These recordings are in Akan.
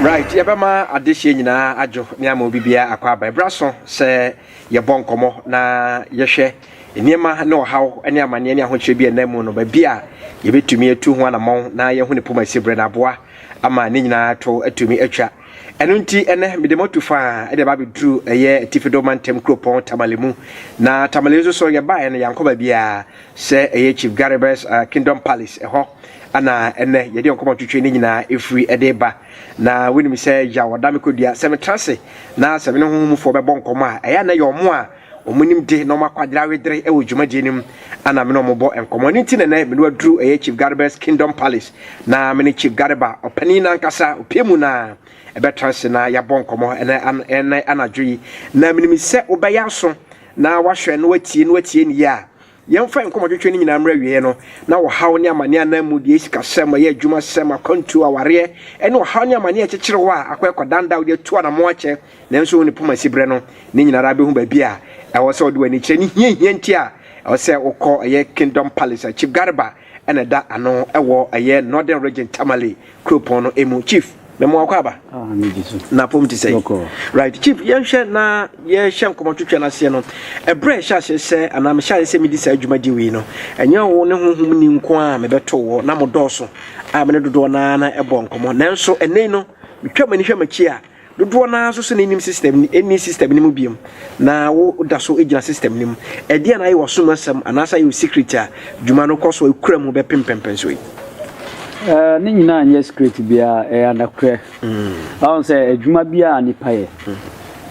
right yɛbɛma adehyeɛ nyinaa adwo ne ama obi biara akɔ aba ɛberɛ so sɛ yɛbɔ nkɔmmɔ na yɛhwɛ nneɛma ne ɔhaw ne amanneɛ ne ahokyerɛ bi a ɛnam mu no baabi a yɛbɛtumi atu ho anammɔn na yɛhu ne poma si berɛ no aboa ama ne nyinaa to atumi atwa. Ɛno nti, ɛnɛ mede moatu fa de aba abɛduru ɛyɛ Atifido Mantam kuropɔn Tamale mu. Na Tamale nso so yɛbaeɛ no yɛankɔ baabiara sɛ ɛyɛ Chief Garibus uh, Kingdom Palace ɛhɔ ana ɛnɛ yɛde nkɔmmɔ twetwe ne nyinaa ɛfiri ɛde ba. Na wonim sɛ yaw ɔda me kɔdua sɛ metra ase na sɛ me ne honhomfoɔ bɛbɔ nkɔmmɔ a ɛyɛ a na ɛyɛ ɔmo a Wɔn nimde na wɔn akwadare awedere wɔ dwumadie no mu a na me ne wɔn bɔ nkɔmmɔ. Ɛno nti na ɛnɛ me ne waduru ɛyɛ Chief Gareba's Kingdom Palace na me ne Chief Gareba ɔpanin no ankasa opie mu na ɛbɛtra ase na yɛabɔ nkɔmmɔ ɛnɛ anadwo yi. Na menim sɛ wobɛyɛ aso na wahwɛ na watie na watie no yie a Yɛmfa yɛn nkɔmmɔtwetwe no nyinaa mmra awieeɛ no, na ɔhaw ne amaneɛ anaa mudie, asikasɛm, ɔyɛ adwumasɛm, akwantuo, awareɛ, ne ɔhaw ne amaneɛ a ɛkyekyere hɔ a akɔ ɛkɔdan da a wode atu anamɔn akyɛ nanso wone poma si berɛ no, ne nyinaa ara bɛhu baabi a ɛwɔ sɛ wode w'ani kyerɛ ne hiahia nti a ɛwɔ sɛ wokɔ ɛyɛ Kingdom Palace a Chief Garba na ɛda ano wɔ ɛyɛ Northern Region Tamale kuropɔn no mu. Chief, me mo akɔ aba. Ah, me di so. Na pom ti sɛ. Right, Chief, yɛnhwɛ na yɛhyɛ nkɔmɔ twetwe no aseɛ no. Ɛbrɛ ɛhyɛ aseɛ sɛ anaa mehyɛ aseɛ sɛ medi saa dwumadi wei no. Ɛnyɛ wo ne honhom ni nko a mebɛto wɔ na mo dɔɔso a me ne dodoɔ no ara na ɛbɔ nkɔmɔ. Nanso ɛnɛ yi no, metwa m'ani hwɛ m'akyi a Dodoɔ no ara nso sɛ na ɛnim system no, ɛnni system no mu biom, na wo da so gyina system no mu. Ɛdeɛn na ayɛ w'asom asɛm anaasɛ ayɛ wo secret a dwuma no kɔ so a ɛkura mu bɛpem mpɛmpɛn so yi? Eh, ne nyinaa nyɛ secret biara, ɛyɛ anokorɛ. Wahu sɛ adwuma bi a nipa yɛ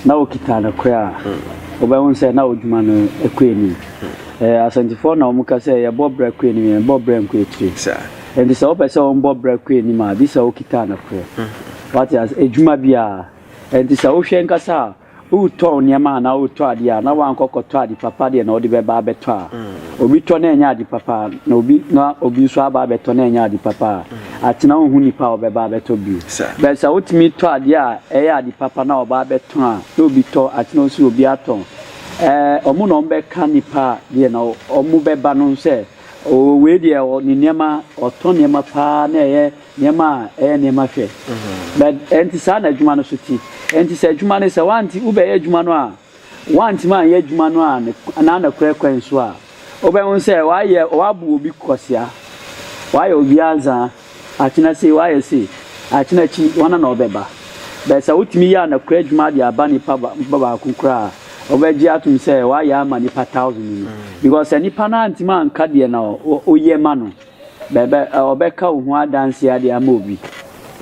na ɔkita anokorɛ a, wobɛhu sɛ na ɔdwuma no ɛkɔ anim. Eh, asɛntefoɔ na wɔka sɛ yɛbɔ bra kɔ anim, yɛnbɔ bra nkɔ akyire. Nti sɛ wopɛ sɛ wɔbɔ bra kɔ anim a, gye sɛ wokita anokorɛ. Wate ase? Adwuma bi a. Ɛnti sɛ wohwɛ ankasa a, woretɔn nneɛma anaa woretɔ adeɛ a, na woankɔ kɔtɔ ade papa deɛ na wode bɛba abɛtɔ a, obi tɔ na ɛnyɛ ade papa a, na obi na obi nso aba abɛtɔ na ɛnyɛ ade papa a, atena wonhu nipa a ɔbɛba abɛtɔ bio. But sɛ wotumi tɔ adeɛ a ɛyɛ ade papa na ɔba abɛtɔn a, na obi tɔ, atena nso obi atɔn. Ɛɛ, wɔn na wɔbɛka nipa a deɛ na wɔbɛba no sɛ, oo wei deɛ ɔ, ne nneɛma, ɔtɔ nneɛma paa na ɛyɛ. Nneɛma a ɛyɛ nneɛma hwɛ. Na ɛnte saa na adwuma no nso te. Enti sɛ adwuma no, sɛ woante, wobɛyɛ adwuma no a, woantumi anyɛ adwuma no a ne, n'anokorɛ kwan so a, wobɛhu sɛ woayɛ, woabu obi kwasea, woayɛ obi anzaa, akyena sei, woayɛ sei, akyena akyi, hɔn na wɔbɛba. But sɛ wotumi yɛ anokorɛ adwuma de aba nipa ba, nipa baako koraa a, wɔbɛgye atom sɛ woayɛ ama nipa thousand no. Because sɛ nipa no antumi anka deɛ na wo, woyɛ ma no. Bɛbɛ ɔbɛka wo ho adanse ade ama obi.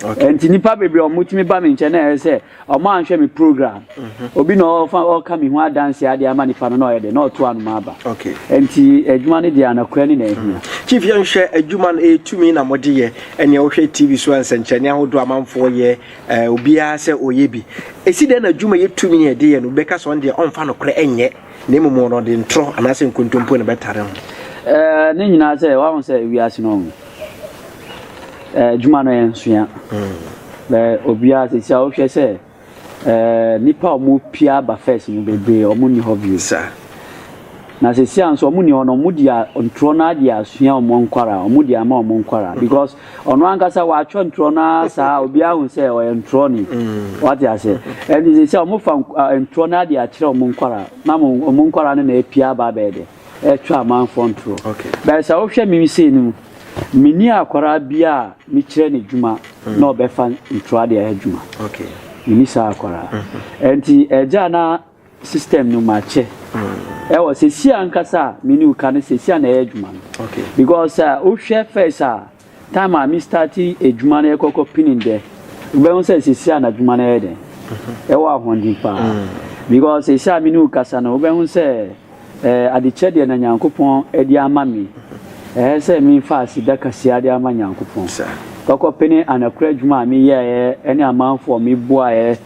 Okay. Nti nipa bebree ɔmo tumi ba mi nkyɛn na ɛyɛ sɛ ɔmo anhwɛ mi program. Mhm. Obi na ɔfa ɔka mi ho adanse ade ama nipa no na ɔyɛ de na ɔto anoma aba. Okay. Nti adwuma no deɛ anakura ne na ehia. Mhm. Chief yɛn hwɛ adwuma no etumi na mo de yɛ ɛnea wohwɛ TV so nsɛnkyerɛnne ahodoɔ amanfoɔ yɛ ɛɛ obiara sɛ ɔyɛ bi. Esi dɛn na adwuma yɛ tumi yɛ de yɛ no bɛka sɛ ɔn deɛ ɔnfa no korɛ ɛnyɛ. Na mmom wɔn no, ɔde ntorɔ anaasɛ nkontompo na ɛbɛtare ho. Ɛɛ, ne nyinaa sɛ, wahu sɛ wiase no, ɛɛ, adwuma no yɛ nsoa. Bɛ obiara sisi a wohwɛ sɛ, ɛɛ, nnipa a wɔpie aba first no bebree, wɔn nni hɔ bio. Saa. Na sisi a nso wɔn nni hɔ no, wɔn deɛ ntorɔ no ara deɛ asua wɔn nkwara, wɔn deɛ ama wɔn nkwara because. Ɔno ankasa watwerɛ ntorɔ no ara saa a obiara hu sɛ ɔyɛ ntorɔni. Wate aseɛ? Ɛnti sɛ sɛ wɔfa ntorɔ no ara de akyerɛ wɔn nkwadaa na wɔn nkwadaa no na apia aba abɛyɛ dɛ ɛretwerɛ amanfoɔ ntorɔ. But sɛ wohwɛ me sei no mu, menni akwadaa biara a mekyerɛ no adwuma na ɔbɛfa ntorɔ de ayɛ adwuma. Menni saa akwadaa. Ɛnti agya na system no makyɛ ɛwɔ sɛsi ankasa a me ne wo ka no sɛsi a na ɛyɛ adwuma no because a wohwɛ first a time a me start adwuma no ɛkɔkɔ pinin dɛ wobɛhu sɛ sɛsi a na adwuma no ɛyɛ dɛn ɛwɔ ahoɔden paa because sɛsi a me ne wo kasa no wobɛhu sɛ ɛɛ adekyɛ deɛ na nyankopɔn ɛde ama me ɛyɛ sɛ memfa aseda kaseɛ de ama nyankopɔn kɔkɔ pene anakora adwuma a meyɛɛ ɛne amanfoɔ meboaeɛ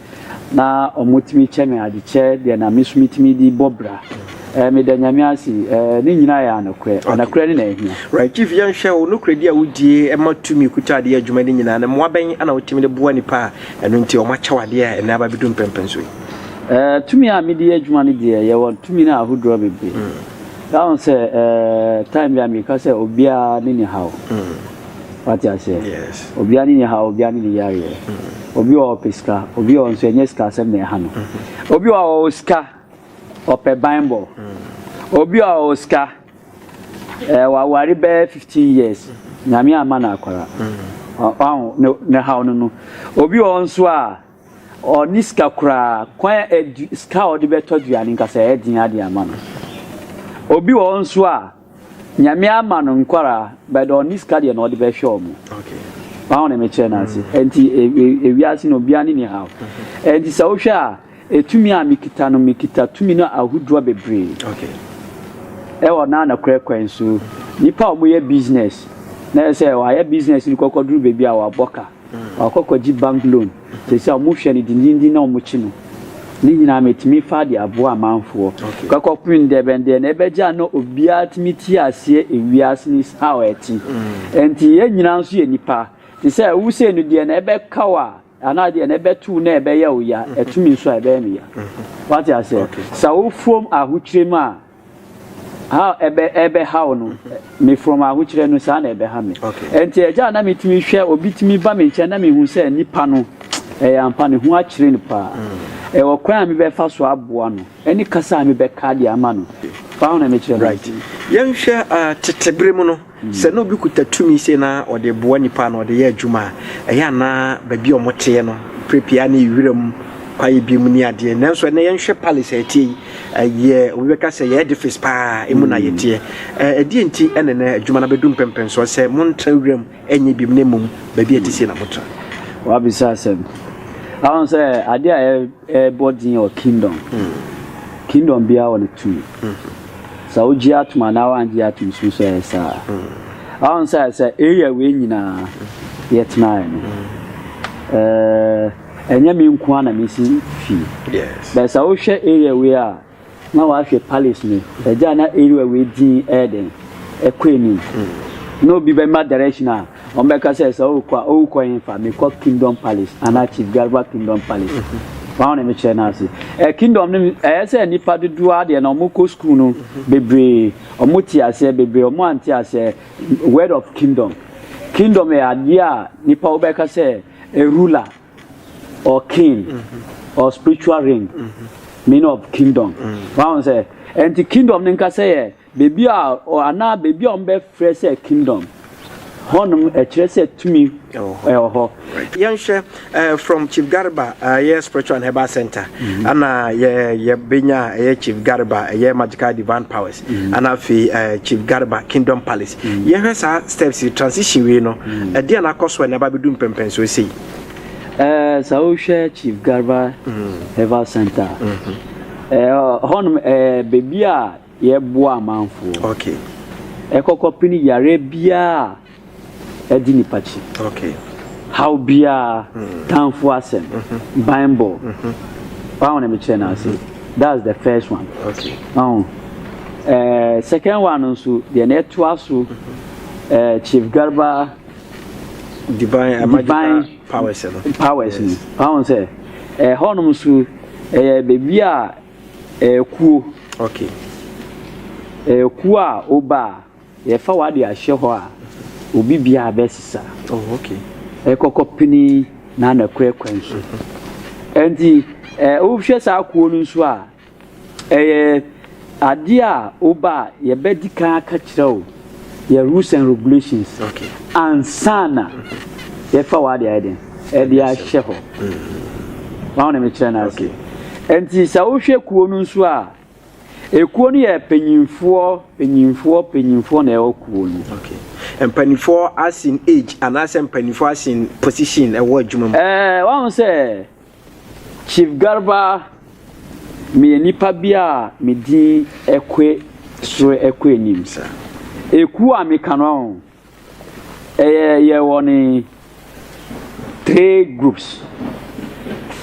Na ɔmo tumi kyɛ me ade, kyɛ deɛ na me nso me tumi de bɔ bra. Eh, meda Nyame ase, eh, ne nyinaa yɛ anokorɛ. Anokorɛ ne na ahia. Right, Chief, yɛn hwɛ wo nokorɛdi a wodie ma tumi kuta adeɛ adwuma ne nyinaa no, mmoa bɛn na wotumi de boa nipa a ɛno nti ɔmo akyɛ wo adeɛ a ɛnɛ aba abɛdu mpɛmpɛn so yi? Eh, tumi a mede yɛ adwuma no deɛ, yɛwɔ tumi no ahodoɔ bebree. Yɛahu sɛ, eh, time bi a meka sɛ obiara ne ne haw. wate aseɛ yes obiara ne ne ha obiara ne ne yareɛ obi wɔ ɔpɛ sika obi wɔ nso ɛnyɛ sika asɛm na ɛha no obi wɔ ɔwɔ sika ɔpɛ banbɔ obi wɔ ɔwɔ sika ɛɛ eh, waware bɛyɛ fifteen years nyame ama na akwara ɔho ne ne haw no no obi wɔ nso a ɔne sika koraa kwan a ɛdu sika a ɔde bɛtɔ aduane nkasa ɛyɛ den ade ama no obi wɔ nso a Nyame ama no nkwaraa but ɔnni sika deɛ na ɔde bɛhwɛ ɔmo. Wahu ne mekyerɛ no ase. Ɛnti e, e, ewiase no obiara ne ne haw. Ɛnti sɛ wohwɛ a, etumi a mekita no, mekita tumi no ahodoɔ bebree. Ɛwɔ na nokorɛ kwan so, nipa a wɔyɛ business, na ɛsɛ sɛ wɔayɛ business no kɔkɔduru baabi a wɔabɔ ka. Wakɔ akɔgye bank loan, seesei a wɔhwɛ no dendenden na wɔkye no. Ne nyinaa metumi faa de aboa amanfoɔ. Kɔ kɔpem ndɛ bɛn deɛ na ɛbɛgye a na obiara tumi te aseɛ ewiase no is how ɛte. Ɛnti yɛn nyinaa nso yɛ nipa. Te sɛ wo sei no deɛ na ɛbɛka wo a anaa deɛ na ɛbɛto wo na ɛbɛyɛ wo ya, ɛto me nso a ɛbɛyɛ me ya. Wate aseɛ? Sa wo fam ahokyerɛ mu a How ɛbɛ ɛbɛhaw no me from ahokyerɛ no saa na ɛbɛha me. Ɛnti ɛgya a na me tumi hwɛ obi tumi ba me nkyɛn na me hu sɛ nipa no ɛyɛ ampa ne ho akyere no paa. Ɛwɔ kwan a me bɛ fa so aboa no ɛne kasa a me bɛ ka de ama no paa na me kyerɛ no. Right yɛn hwɛ ah tete bere mu no. Sɛ na obi kuta tumi sei na ɔde boa nnipa na ɔde yɛ adwuma a, ɛyɛ a na baabi a wɔteɛ no berɛ pii a na ɛyɛ wiram kwaeɛ bi mu ne adeɛ. Nanso ɛnnɛ yɛnhwɛ palace a ɛteɛ yi, ɛyɛ obi bɛka sɛ ɛyɛ edifice paa emu na yɛteɛ. Ɛ, ɛdeɛ nti na ɛnnɛ adwuma no abɛdu mpɛmpɛnsoɔ sɛ montra wiram nyɛ biom na mmom baabi a ɛte sei na motra? Wabisa asɛm. Ahun sɛ adeɛ a ɛbɔ din wɔ kingdom, kingdom biara wɔ ne tumi. Sɛ wogye atom anaa woangye atom so nso ɛyɛ saa. Ahon sɛ sɛ area wei nyinaa yɛtenaeɛ no, ɛnyɛ me nko na mesi fie. Bɛɛ sɛ wohwɛ area wei a na wahwɛ palace no, ɛgya na area wei din ɛyɛ den, ɛkɔ anim. Na obi bɛma direction a Wɔbɛka sɛ sɛ ɔrekɔ a ɔrekɔ hefa? Mekɔ Kingdom Palace anaa Chief Garba Kingdom Palace. Wɔn na mekyerɛ no ase. Ɛ Kingdom no ɛyɛ sɛ nnipa dodoɔ ara deɛ na wɔkɔ sukuu no bebree, wɔte aseɛ bebree, wɔn ante aseɛ word of Kingdom. Kingdom yɛ adeɛ a nipa wobɛka sɛ a ruler or king or spiritual ring meaning of Kingdom. Wɔn sɛ ɛnti Kingdom no nkasa yɛ. Beebi a ɔ anaa beebi a wɔbɛfrɛ sɛ kingdom, hɔnom ɛkyerɛ sɛ tumi wɔ hɔ. Yɛnhwɛ eh, from Chief Garba eh, ɛyɛ spiritual and herbal center mm-hmm. ana yɛ yɛbɛnya ɛyɛ Chief Garba ɛyɛ eh, magical divine powers mm-hmm. ana afei eh, Chief Garba Kingdom Palace mm-hmm. yɛhwɛ saa steps transition wei no ɛdeɛ na akɔ so a na ɛba bɛdu mpɛmpɛnsoɔ sei eh, sɛ wohwɛ Chief Garba mm. herbal center eh, hɔnom eh, baabi a Yɛboa amanfoɔ ok kɔ kɔ pini yareɛ biaa adi nipa kyi ok haw biaa tanfoɔ asɛm banbɔ waho na mekyerɛ no ase that's the first one ok waho eh, second one no nso deɛ na ɛtoa so eh, chief garba divine divine powers no powers no waho sɛ ɛhɔnom eh, nso ɛyɛ baabi a Ɛkuo ok ɛkuo a woba a yɛfa wo ade ahyɛ hɔ a obi biara bɛsesa oh ok ɛkɔkɔ pini na na kura kwan so ɛnti ɛ wohwɛ saa kuo no nso a ɛyɛ adeɛ a woba a yɛbɛdi kan aka kyerɛ wo yɛ rules and regulations ansa na yɛfa w'ade ayɛ den ɛde ahyɛ hɔ wɔn na mekyerɛ no ase nti sɛ wohwɛ kuo no nso a ekuo no yɛ panyinfoɔ panyinfoɔ panyinfoɔ na ɛwɔ kuo no. Okay. mpanimfoɔ asin age anaasɛ mpanimfoɔ asin position ɛwɔ adwuma mu. ɛɛ wɔn sɛ Chief Garba, meyɛ nipa bi a me din kɔ soro kɔ anim saa. Ekuo a meka no ho, ɛyɛ yɛwɔ ne three groups.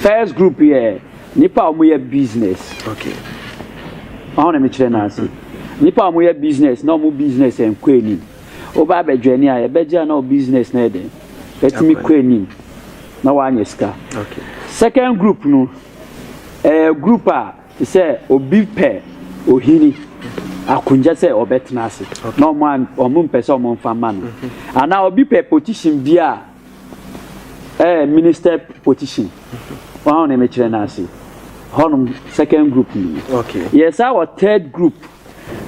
First group yɛ nipa a wɔyɛ business. Okay. Ɔho na mekyerɛ no ase. Nipa a wɔyɛ business na wɔn business nkɔ anim. Woba abɛjoini a yɛbɛgye a na wo business no yɛ dɛn? Atumi kɔ anim na woanyɛ sika. Second group no, ɛyɛ group a te sɛ obi pɛ ohini akonnwa sɛ ɔbɛtena ase na wɔn mpɛ sɛ wɔn mfa ma no. Anaa obi pɛ position bi a ɛyɛ minister position. Wɔn a wɔn mekyerɛ no ase. Hɔnom second group no. Yɛsan wɔ third group.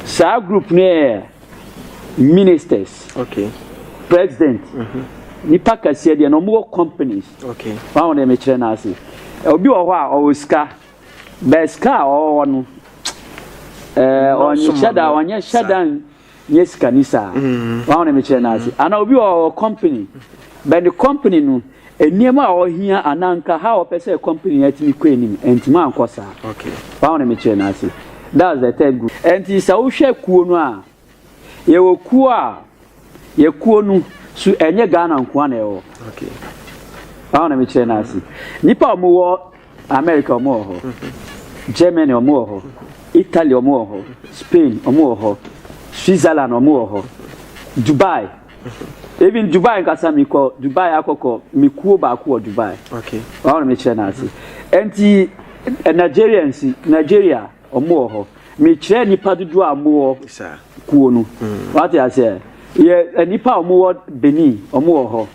Saa group no yɛ ministers okay president mm-hmm. nipa kɛseɛ deɛ na wɔn wɔ companies okay wɔn ahodeɛ mi kyerɛ n'ase obi wɔ hɔ a ɔwɔ sika bɛɛ sika a ɔwɔ no ɛɛ ɔnyɛ hyɛ da ɔnyɛ hyɛ da nyɛ sika ni saa wɔn ahodeɛ mi kyerɛ n'ase ana obi wɔ ɔwɔ company bɛn ne company no. Nneɛma a ɔhia anaa nka how ɔpɛ sɛ company no tumi kɔ anim antumi ankɔ saa. Wɔaho na mekyerɛ no ase. That's the third group. Ɛnti sɛ wohwɛ kuo no a, yɛwɔ kuo a, yɛ kuo no so ɛnyɛ Ghana nkoa na ɛwɔ. Wɔaho na mekyerɛ no ase. Nnipa a wɔwɔ America wɔn wɔ hɔ, Germany wɔn wɔ hɔ, Italy wɔn wɔ hɔ, Spain wɔn wɔ hɔ, Switzerland wɔn wɔ hɔ, Dubai. Even Dubai nkasa mi kɔ Dubai akɔkɔ mi kuo baako wɔ Dubai. Okay. Wɔn na mi kyerɛ n'ase. Nti eh, Nigerians Nigeria wɔn wɔ hɔ. Mi kyerɛ nipa dodoɔ a wɔn wɔ Sir. kuo no. Wate aseɛ? Yɛ eh, nipa a wɔn wɔ Benin wɔn wɔ hɔ.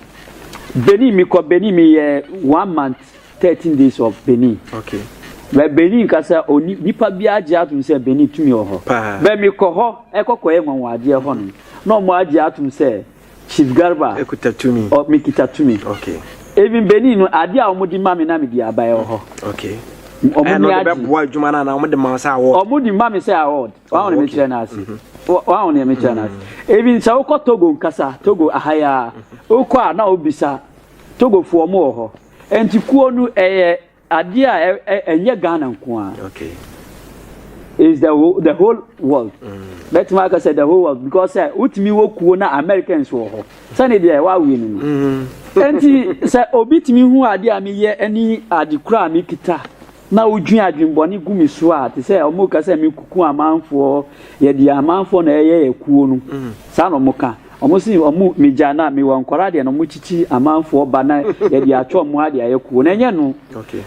Benin mi kɔ Benin mi yɛ one month Thirteen days of Benin. Okay. Bɛ Benin nkasa oni nipa bi agye atom sɛ Benin tumi wɔ hɔ. Paa. Bɛ mi kɔ hɔ ɛkɔ kɔ yɛ nwanwadeɛ hɔ no na ɔmo agye atom sɛ Chief Garba. Ekuta tumi. Ɔ mi kita tumi. Okay. Even Benin no adeɛ a ɔmo di ma mi na mi di aba ɛwɔ hɔ. Okay. Ɔmo ni agye. Ɛna ɔde bɛ boa adwuma na na ɔmo de ma sɛ award. Ɔmo di ma mi sɛ award. Wɔn ahɔn mi kyerɛ n'ase. Wɔn ahɔn mi kyerɛ n'ase. Even sɛ wokɔ Togo nkasa Togo ahaya wokɔ a na obisa Togo fo ɔmo wɔ hɔ. Nti kuo no ɛyɛ adeɛ a ɛnyɛ Ghana nko ara. Okay. It's the whole, the whole world. Bɛtumi mm. aka sɛ the whole world because sɛ wotumi wɔ kuo na Americans wɔ hɔ sɛne deɛ wawe no no. Mm. Nti sɛ obi tumi hu adeɛ a meyɛ ne ade kura a mekita. na wodwin adwen bɔne gu me so a te sɛ ɔmo ka sɛ me kuku amanfoɔ yɛ deɛ amanfoɔ na ɛyɛ yɛ kuo no mm. saa na ɔmo ka ɔmo si ɔmo me gya na me wɔ nkɔla deɛ na ɔmo kyikyi amanfoɔ ba na yɛ deɛ atwa ɔmo ha deɛ ayɛ kuo na ɛnyɛ no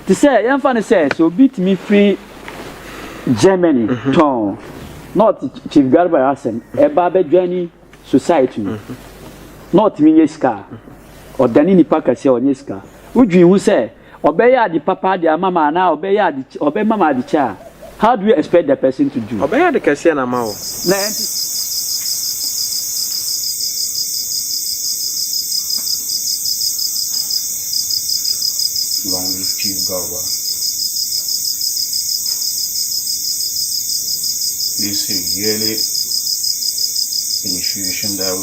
te sɛ yɛn fa no sɛ sɛ obi tumi firi Germany mhm. tɔn na ɔte Chief Garba asɛm ɛba abɛdwa ni society no mhm. na ɔtumi nyɛ sika ɔdane nipa kɛseɛ ɔnyɛ sika wodwin ho sɛ Ɔbɛyɛ ade papa de ama ma anaa ɔbɛyɛ ade ɔbɛma ma ade kyɛ a, how do you expect the person to do? Ɔbɛyɛ ade kɛseɛ na ama wo. Long live Chief Garba. This is yearly initiation that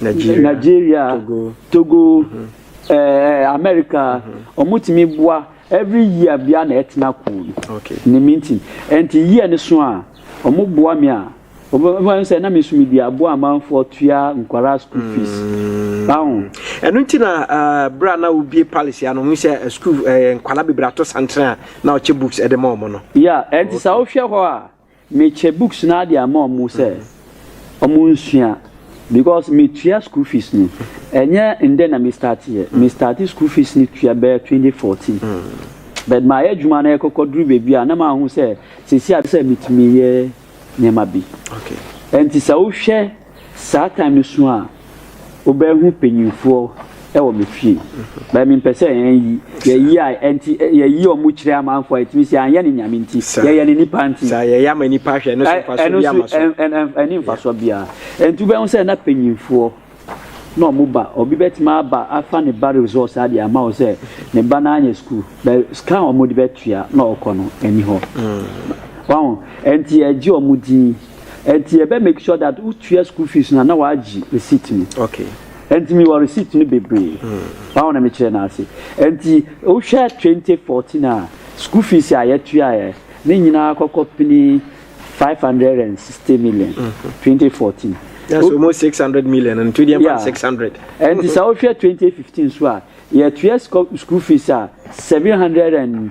Nigeria, Togo, America, ɔmo tumi boa every year bia na ɛtena kuo no ne meeting. Ɛnti year no so a ɔmo boa me a, ɔmo ɔmo ayɛ sɛ na me so me di aboa amanfoɔ tua nkwadaa school fees. Ahu. Ɛno nti na berɛ a na wobie palace a na ɔmo sɛ school nkwadaa bebree ato santere a na ɔkyɛ books ɛde ma ɔmo no. Yeah, ɛnti sɛ wohwɛ hɔ a. Me kyɛ books naa de ama ɔmo sɛ ɔmo nsua because me tua school fees no ɛnyɛ ndɛ na me start yɛ me start school fees no tua bɛyɛ twenty fourteen but mayɛ adwuma no ɛkɔkɔ duru baabi a na maa hu sɛ sɛsi a sɛ me tumi yɛ nneɛma bi ɛnti sɛ wo hwɛ Saa time no so a wobɛ hu panyinfoɔ wɔ me fie bɛ me mpɛ sɛ yɛn yi yɛ yi a ɛnti yɛ yi ɔmo kyerɛ amanfoɔ a ɛtumi sɛ anyɛ ne nyame nti yɛ yɛ ne nipa nti saa yɛ yɛ ama nipa ahwɛ ɛno so nfa so bi ama so ɛni nfa so bia ɛnti wobɛ hu sɛ na panyinfoɔ na ɔmo ba obi bɛ tumi aba afa ne ba resort saa deɛ ama wo sɛ ne ba na anyɛ school bɛ scan ɔmo de bɛ tua na ɔkɔ no ɛni hɔ mm. wɔn ɛnti yɛ gye ɔmo din. nti yɛ bɛ make sure that wo tua school fees na na wa gye receipt no okay nti mi wɔ receipt no bebree hmm. báwo na mi kyerɛ n'ase nti o hwɛ twenty fourteen a school fees a yɛ tua yɛ ne nyinaa kɔkɔ pini five hundred and sixty million hmm. twenty fourteen. That's o, almost six hundred million and two hundred yeah. six hundred. nti sɛ o hwɛ twenty fifteen so a yɛ tua school fees a seven hundred and.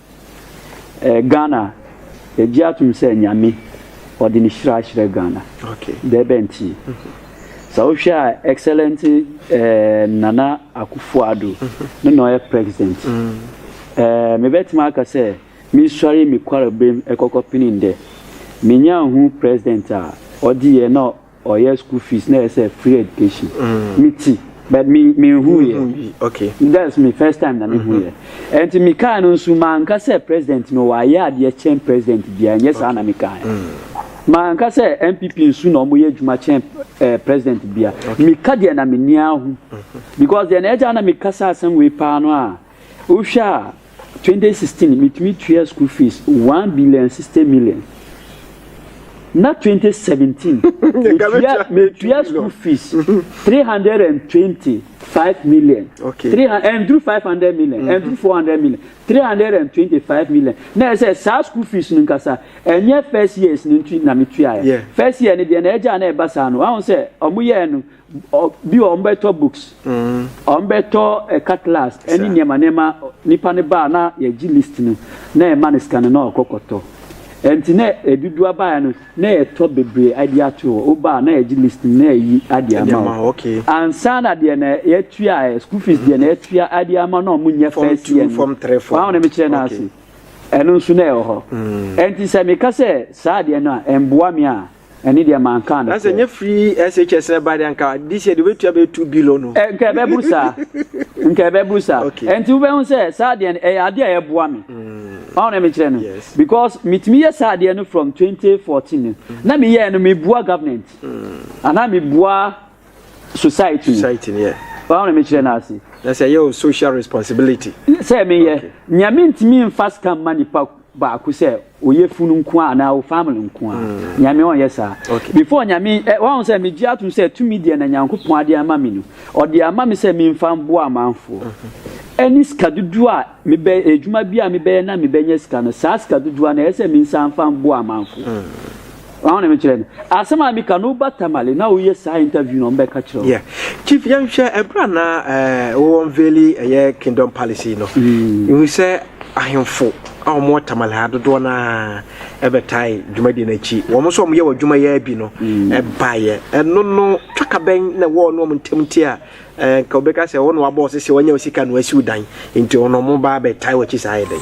Eh Ghana yɛgye atom sɛ Nyame ɔde ne hyira ahyerɛ Ghana. Dɛɛ bɛ nti? Sɛ wohwɛ a excellent eh, Nana Akufo Addo no na ɔyɛ president. Eh, mebɛtumi aka sɛ mesɔre me kwarebem ɛkɔkɔ pene ndɛ. Menyaa hu president a ɔde yɛ na Ɔyɛ school fees na ɛsɛ free education me ti but me me hu yɛ okay that's me first time na me hu yɛ ɛnti me kaa no nso maa nka sɛ president no wa yɛ adeɛ kyɛn president bia nyɛ saa na me kaa yɛ maa nka sɛ npp nso na ɔmo yɛ adwuma kyɛn eh, president bia me ka deɛ na me nia ho because deɛ na ɛgya na me kasa asɛm wei paa no a Wohwɛ a, twenty sixteen mitumi tua school fees one billion and sixty million. Na twenty seventeen metua metua school fees three hundred and twenty five million. Okay. Three and through five hundred million and through four hundred million three hundred and twenty five million. Na ɛsɛ saa school fees no nkasa ɛnyɛ first years no nti na metua yɛ. First year no deɛ na ɛgya na ɛba saa no wɔn sɛ wɔn yɛ no. Bi wɔ hɔ wɔbɛtɔ books, wɔbɛtɔ cutlass ne nneɛma nneɛma. Nipa no ba a na yɛgye list no na yɛma no sika no na ɔkɔ kɔtɔ. Nti na ɛdudu aba a no na yɛtɔ bebree adi ato hɔ. Woba a na yɛgye list no na yɛyi ade ama wo. Ansa na deɛ na yɛtua ɛ, school fees deɛ na yɛtua ade ama na wɔnyɛ first year no. Wahu deɛ mekyerɛ no ase? Ɛno nso na ɛwɔ hɔ. Nti sɛ meka sɛ saa adeɛ no a ɛmboa me a. Ɛne deɛ mankaa no sɛ. Na sɛ nyɛ free SHS ɛba deɛ nka this year deɛ wobɛtua bɛyɛ two billion no. Eh, nka ɛbɛburu saa. Nka ɛbɛburu saa. Okay. Ɛnti wobɛhu sɛ saa deɛ no ɛyɛ adeɛ a ɛboa me. Mm. Wɔn na mekyerɛ no. Yes. Because metumi yɛ saa deɛ no from 2014 no. Mm. Na meyɛɛ no mebua government. Mm. Anaa mebua society. Society no, yeah. Wɔn na mekyerɛ no ase. Na sɛ ɛyɛ o social responsibility. Sɛ meyɛ. Okay. Nyame ntumi nfa scam ma nipa baako sɛ ɔyɛ funu nko ara anaa wo family nko ara mm. nyame ɔnyɛ saa before nyame eh, wɔn sɛ megye atom sɛ tumi deɛ na nyankopɔn adeɛ ama me no ɔde ama me sɛ memfa mboa amanfoɔ mm-hmm. ɛne sika dodoɔ a mebɛ adwuma bi a mebɛyɛ na mebɛnya sika no saa sika dodoɔ na ɛyɛ sɛ mensa mfa mboa amanfoɔ mm. Wɔn a na mekyerɛ no asɛm a meka no woba Tamale na woyɛ saa interview na wɔbɛka kyerɛ wo. Yeah. Chief yɛnhwɛ ɛberɛ a na eh, wɔwɔ nveli ɛyɛ kingdom palace no. Mm. Ehu sɛ ahemfo a wɔn wɔ Tamale ha dodoɔ no ara ɛbɛtae dwumadie no akyi. Wɔn nso wɔn yɛ wɔ adwuma yɛ bi no ɛbaeɛ. Mm. Ɛno no twakabɛn na ɛwɔ wɔn wɔn ntam nti a Anka wobɛka sɛ wo na wabɔ wo sese wanya wo sika na wasi wo dan nti ɔno ɔmo ba abɛtae w'akyi saa ayɛ dɛn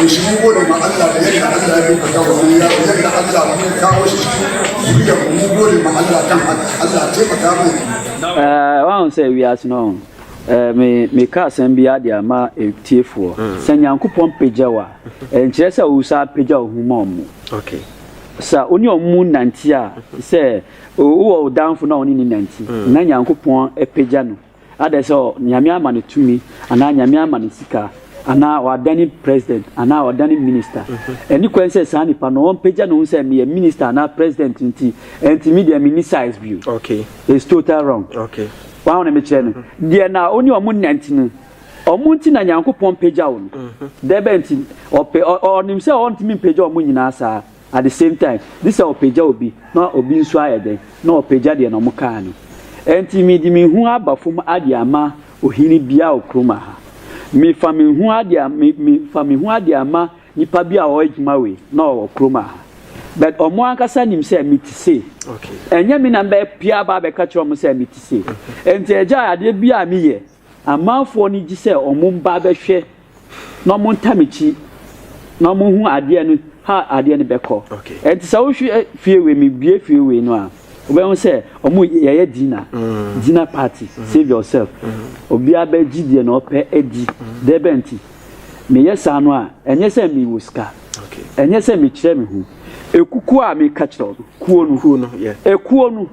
Nhyira wɔ ne ma Allah da yadda Allah ya ɗaukaka wannan yaro yadda Allah kuma ya kawo shi cikin zuriya mu mun gode ma Allah kan haka Allah taimaka mai. Ɛɛ wɔn sɛ wiase no ɛɛ me me ka asɛm bi ade ama etiefoɔ mm. sɛ nyankopɔn pagya wa nkyerɛ sɛ ɔwusa pagya ɔhu ma ɔmo. Okay. sa wo ne ɔmo nante a sɛ wowɔ wo danfo na ɔne ne nante mm. na nyankopɔn apagya no Adɛn sɛ Nyame ama no tumi anaa Nyame ama no sika anaa ɔadane president anaa ɔadane minister? Ɛnni kwan sɛ saa nipa no ɔmpagya ne ho sɛ meyɛ minister anaa president nti ɛnti me deɛ menni size bio. It's total wrong. Wahu ne mekyerɛ no? Deɛ na ɔne ɔmo nante no, ɔmo nti na Nyankopɔn pagyaw no. Dɛbɛn nti? Ɔpɛ, ɔnim sɛ ɔntumi mpagya ɔmo nyinaa saa. At the same time, gye sɛ ɔpagya obi na obi nso ayɛ dɛn? Na ɔpagya deɛ na wɔkaa no. Ɛnti mede me ho aba fam ade ama ohene bi a okurom aha. Mefa me ho ade a, me, me, fa me ho ade ama nipa bi a ɔwɔ adwuma wei na ɔwɔ kurom aha. But wɔn ankasa nim sɛ mete sei. Ɛnyɛ me na mɛpia aba abɛka kyerɛ wɔn sɛ mete sei. Ɛnti agya adeɛ bi a meyɛ, Amanfoɔ no gye sɛ wɔn mba bɛhwɛ na wɔn ntam akyi na wɔn hu adeɛ no ha adeɛ no bɛkɔ. Ɛnti sɛ wohwɛ fie wei mi bue fie wei no a, wobɛhu sɛ wɔn yɛyɛ dina, dina party, save yourself. Obia bɛgye deɛ na ɔpɛ adi. Dɛbɛnti? Meyɛ saa no a, ɛnyɛ sɛ mi wɔ sika. Ɛnyɛ sɛ mekyerɛ me ho. Ekukuo a meka kyerɛ wo no, kuo no. Kuo no, yeah. Ekuo no.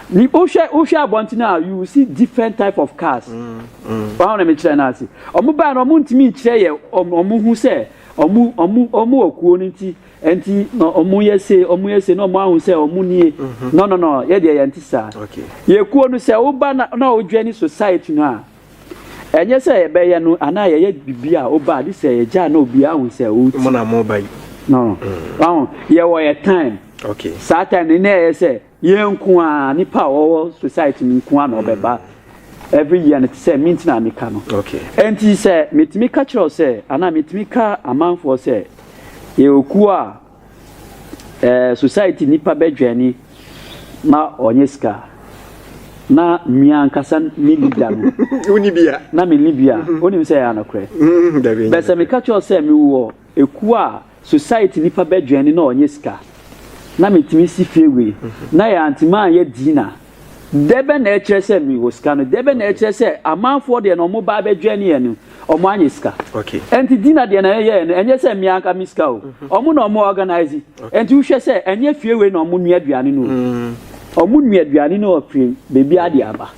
Ni wohwɛ wohwɛ abɔnten a you will see different type of cars. Wɔn na mekyerɛ no ase. Wɔn baa no wɔn ntumi nkyerɛ yɛ wɔn wɔn ho sɛ wɔn wɔn wɔn wɔ kuo no nti nti na wɔn yɛ se wɔn yɛ se na wɔn ahu sɛ wɔn nie. No no no yɛ deɛ yɛn ti saa. Yɛ kuo no sɛ woba na na wodwɛ ne society no a Ɛnyɛ sɛ yɛbɛyɛ no anaa yɛyɛ biribi a woba a gye sɛ yɛgya na obiara hu sɛ woti. Mo na mo ba yi. No. Wahu, yɛwɔ yɛ time. Okay. Saa time no na ɛyɛ sɛ yɛn nko a nipa a wɔwɔ society no nko a na ɔbɛba. Every year no te sɛ me nti na meka no. Okay. Enti sɛ metumi ka kyerɛ wo sɛ anaa metumi ka amanfoɔ sɛ yɛwɔ kuo a Eh society nipa bɛ dwɛni ma ɔnyɛ sika na mia ankasa ne leader no woni bia na me ni bia onim sɛ ya nokorɛ mm, bɛ sɛ meka kyerɛ sɛ me wɔ ekuo a society nipa bɛ dwɛni na ɔnyɛ sika na metumi si fie wei na yɛ antimi anyɛ dina Dɛ bɛn na ɛkyerɛ sɛ mewɔ sika no? Dɛ bɛn na ɛkyerɛ sɛ amanfoɔ deɛ na wɔba abɛdwɛn yɛn no, wɔanyɛ sika? Ɛnti Dina deɛ na yɛyɛɛ no, ɛnyɛ sɛ me anka me sika o. Wɔn na wɔn organise. Ɛnti wohwɛ sɛ ɛnyɛ fie wei na wɔn nua aduane no o. Wɔn nua aduane no ɔfiri baabiara de aba.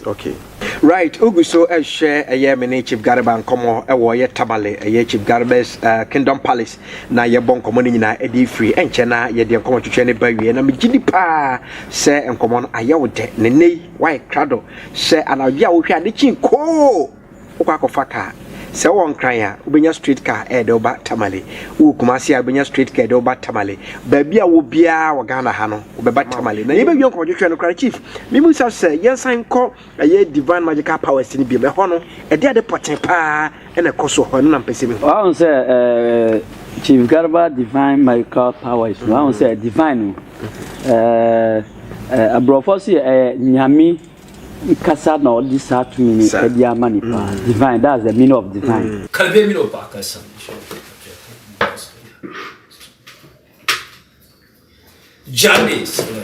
Right, wogu so rehwɛ ɛyɛ me ne Chief Garba nkɔmmɔ ɛwɔ ɛyɛ Tamale ɛyɛ Chief Garba's uh, Kingdom Palace na yɛbɔ nkɔmmɔ no nyinaa ɛde firi ɛnkyɛ na yɛde nkɔmmɔ twetwe ne ba wie na megye di paa sɛ nkɔmmɔ no ayɛ wo dɛ ne nnɛ yi wayɛ krado sɛ anadwo a wohwɛ ade kyin koo wokɔ akɔfa kaa sɛ wɔ nkran a wobɛnya straight car ɛde woba tamale wowɔ kumase a wobɛnya straight car ɛde woba tamale baabi a wɔ biara wɔ ghana ha no wobɛba tamale na yɛbɛwie nkɔmmɔ twetwe no koraa chief memu sa sɛ yɛnsan kɔ Ɛyɛ Divine Magical Powers no biom. Ɛhɔ no, ɛde ade pɔtee paa na ɛkɔ so wɔ hɔ. Ɛno na mepɛ sɛ mihu. Wahu sɛ ɛɛ Chief Garba Divine Magical Powers no, wahu sɛ divine no, ɛɛ aborɔfo so yɛ ɛyɛ nyame kasa na ɔde saa tumi no ɛde ama nipa. Divine, that's the meaning of divine. Kalbe mi no baka sa mi sho ko ka pe ko mi baka sa mi. Jane sila.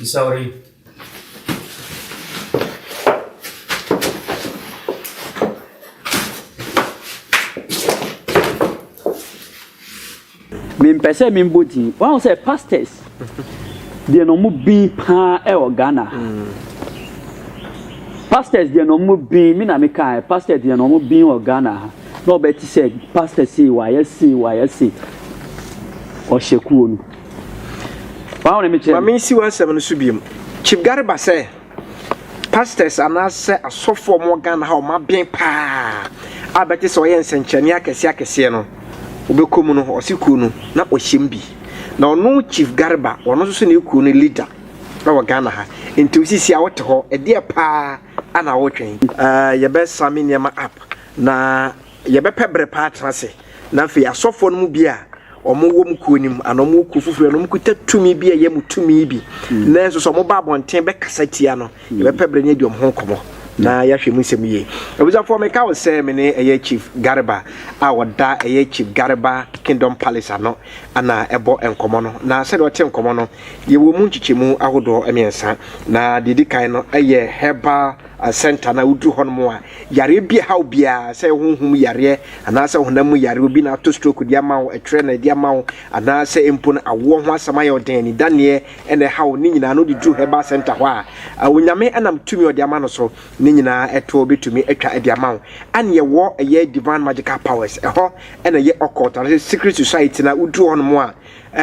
Isauri. mempɛ sɛ membɔ din wahu sɛ pastors deɛ na ɔmo bin paa ɛwɔ ghana pastors deɛ na ɔmo bin me na mekae pastors deɛ na ɔmo bin wɔ ghana ha na ɔbɛ te sɛ pastor sei wayɛ sei wayɛ sei ɔhyɛ kuo no wɔn na mi kyerɛ. maame nsi w'asɛm no so biom chief gari ba sɛ pastors anaasɛ asɔfo a wɔn ghana ha wɔn abɛn paa a bɛte sɛ ɔyɛ nsɛnkyerɛnne akɛseɛ akɛseɛ no wɔbɛkɔ mu no ɔsi kuo no na ɔhyɛ mu bi na ɔno chief gari ba ɔno nso so na ekuo no leader ɛwɔ ghana ha nti osisi a ɔte hɔ ɛdeɛ paa ana ɔretwɛn. Ɛɛ yɛbɛsa me nneɛma app. Na yɛbɛpɛ bere pa atena ase, na afei asɔfoɔ no mu bi a wɔwɔ mu kuo no mu anaa wɔwɔ kuo foforɔ na wɔkuta tumi bi a ɛyɛ mu tumi bi hmm. nanso sɛ wɔba abɔnten bɛkasa tia no hmm. yɛbɛpɛ bere ne adi wɔn ho nkɔmmɔ na hmm. yɛahwɛ mu nsɛm yie abusuafoɔ meka wo sɛ me ne ɛyɛ chief garba a wɔda ɛyɛ chief garba kingdom palace ano ana ɛbɔ nkɔmmɔ no na sɛdeɛ ɔte nkɔmmɔ no yɛwɔ mu nkyekyɛmu ahodoɔ mmiɛnsa na deɛ di kan no ɛyɛ herbal uh, center na woduru hɔ no mu a Yareɛ bi ɛha wo biara, sɛ honhom yareɛ anaasɛ honam mu yareɛ, obi na ato stroke de ama wo, ɛtwerɛ na ɛde ama wo, anaasɛ mpo no awoɔ ho asɛm ayɛ wo den, anidaneɛ na ɛha wo, ne nyinaa no wode duru herbal centre hɔ a, Onyame nam tumi a ɔde ama no so no nyinaa ɛtoɔ bɛtumi atwa de ama wo. Ɛne yɛwɔ ɛyɛ Divine Magical Powers, ɛhɔ na ɛyɛ occult anaasɛ secret society no a, woduru hɔ nom a,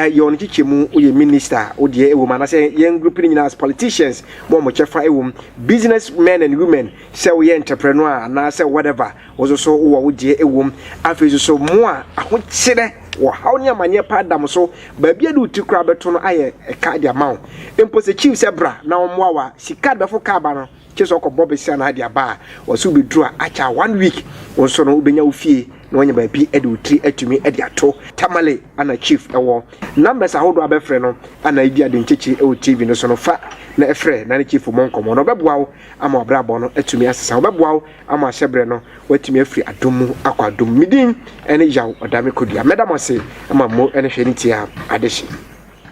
yɛ wɔn nkyekyɛmu, woyɛ minister a, wodeɛ ɛwɔ mu, anaasɛ yɛn group no nyinaa as politicians, mo a mo kyɛfa ɛwɔ mu, business men and women, sɛ woyɛ nkyɛprɛnɔ a anaasɛ whatever, wo nso so wowɔ wo deɛ wɔ mu. Afei nso so, mo a ahokyerɛ wɔ haw ne amanneɛ paa da mo so, baabi a ɛde wo ti koraa bɛto no ayɛ ɛka de ama wo. Mpo sɛ chief sɛ bra na ɔmmoa wo a, sika a de bɛforo kaa aba no, gye sɛ ɔkɔbɔ bese anaa de aba a, wɔse wobɛduru a akyɛ a one week, wo nso no wobɛnya wo fie na woanya baabi de wo tiri atumi de ato. Tamale ana chief wɔ numbers ahodoɔ a bɛfrɛ no anaa ebia de nkyekye wɔ TV no so no, fa na frɛ na ne chief mmɔ nkɔmmɔ na ɔbɛboa wo. ama w'abrabɔ no atumi asesa. Wɔbɛboa wo ama ahyɛbrɛ no woatumi afiri adom mu akɔ adom mu. Medin ne Yaw Ɔdame Kodua. Mɛda mo ase ma mmo ne hwɛ ne tie a adehye.